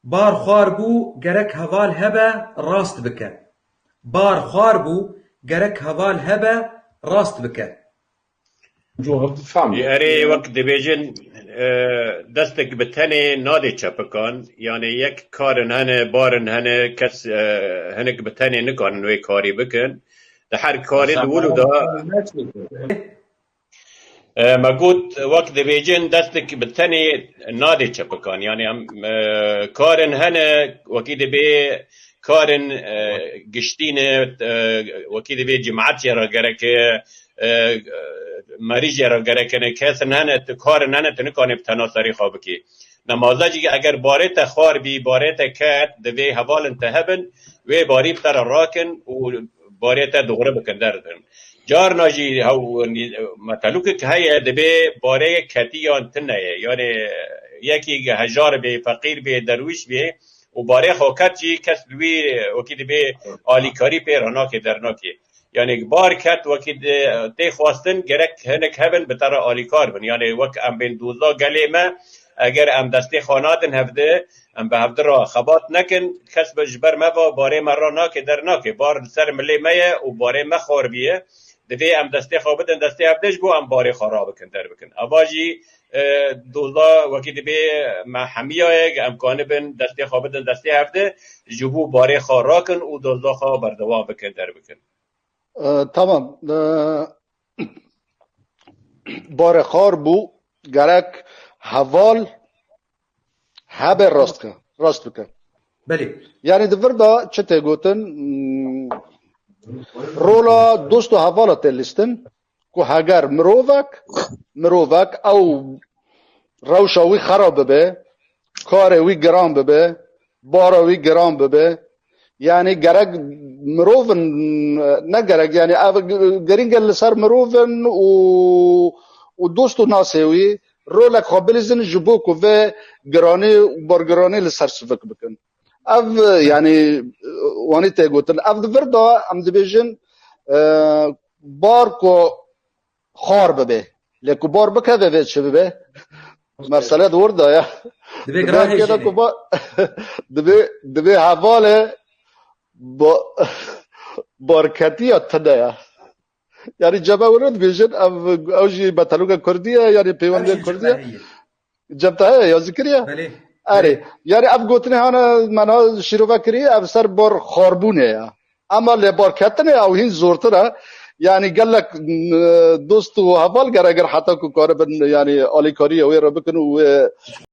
Bar xwar bû gerek heval hebe rast bike Bar xwar bû gerek heval hebe rast bike. Jî erê wek dibêjin destek bi tenê nadê çepikan yanê yek karin hene barin hene kes hinek bi tenê nikarin wê karî bikin di her karî di wilo da Me got wek dibêjin destek bi tenê nadê çepikan yanî em karên hene wekî dibê karên giştî ne wekî dibê cimetê re gereke merîjê re gereke ne kesin hene tu karên hene tu nikanî bi tena serî xwe bikî. Nemaze jî eger barê te xwar bî barê te ket divê hevalên te hebin wê barî bi te re rakin û barê te dixwre bikin der. Carna jî metelûkek heye divê bareyek ketî yan ti neye. Yanê yekî hejar bê, feqîr bê, derwîş bê û barê xwe ket jî kes li wî wekî divê alîkarî pê re nake dernake. Yanê bar ket wekî tê xwestin gerek hinek hebin bi te re alîkar bin. Yanê wek em bên doza gelê me eger em destê xwe nadin hev de Em bi hevdi re xebat nekin, kes be ji ber me ve barê me re nake der nake. Bar li ser milê me ye û barê me xaribî ye. Divê em destê xwe bidin destê hevdê ji bo em barê xwe rabikin der bikin. Ava jî doza wekî dibê me hemiya ye ge em kanibin destê xwe bidin destê hevdê ji bo barê xwe rakin û doza xwe berdewam bikin der bikin. Tamam. Barê xar bû gerek heval Hebe rast ke. Rast bike. Belê. Yani di vir de çi tê gotin rola dost û hevala tê lîstin ku heger mirovek mirovek ew rewşa wî xerab bibe, karê wî giran bibe, Bara wî giran bibe. Yanî gerek mirov in ne gerek yanî ev girîng e li ser mirov in û û dost û nasê wî rolek xwe bilîzin ji bo ku vê giranî û bargiranî li ser sivik bikin. Ev yanî wanî tê gotin. Ev di vir de em dibêjin bar ku Xar bibe. Lê ku bar bikeve vê çi bibe? Mesele di wir de ye. Divê girahêjîne. Divê divê hevalê barketiya tune ye. Yanî cem ew re dibêjin ew ew jî beteloka kurdî ye yanî pêwendê kurdî ye. Cebtayê ya zikiriye? Belê. Erê. Yani ev gotinê hane mena şîrove kirî ev ser bar xarbûnê ye. Ema lêbarketinê ew hîn zortir e. Yani gelek dost û heval gere gir heta ku karibin yani alîkariyê wê re bikin û wê